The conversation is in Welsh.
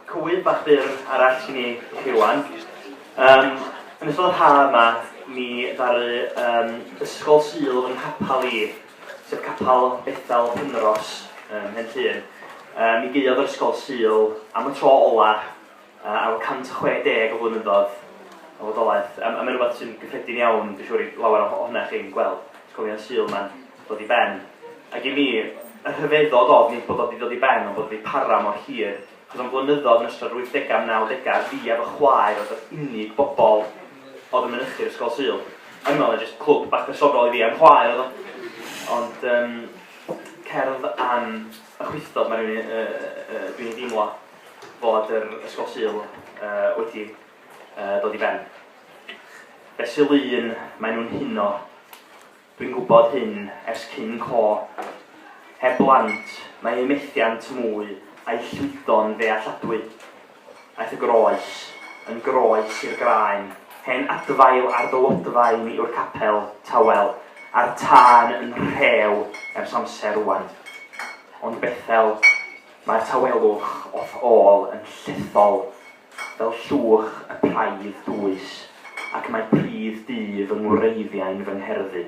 Cwyn bach byr arall i ni chi rwan. Um, yn ystod y ha yma, mi ddaru um, Ysgol Sul yn hapal i, sef capal Bethel Penros, um, hen llun. Um, mi geiodd yr Ysgol Sul am y tro ola A efo 160 o flynyddoedd o fodolaeth, a mae'n rhywbeth sy'n gyffredin iawn, dwi'n siŵr, i lawer ohonoch chi'n gweld ysgolion Sul mae'n dod i ben. Ac i mi, y rhyfeddod oedd nid bod o wedi dod i ben, ond bod o wedi para mor hir, achos am flynyddoedd yn ystod yr 80au a'r 90au, fi a fy chwaer oedd yr unig bobl oedd yn mynychu'r ysgol Sul. O'n i'n meddwl na jyst clwb bach personol i fi a'n chwaer oedd o. Ond um, cerdd am y chwithod mae rhywun uh, uh, dwi'n ei deimlo. fod yr Ysgol Sul wedi dod i ben. Be sy'n lun, maen nhw'n huno. Dwi'n gwybod hyn ers cyn co. Heb blant, mae ei methiant mwy a'i llwydo'n ddealladwy. Aeth y groes, yn groes i'r graen, hen adfail ar dywodfaen yw'r capel, tawel, a'r tân yn rhew ers amser rwan. Ond Bethel, Mae'r tawelwch o'th ôl yn llethol fel llwch y praidd dwys, ac mae pridd du fy ngwreiddiau'n fy ngherddi.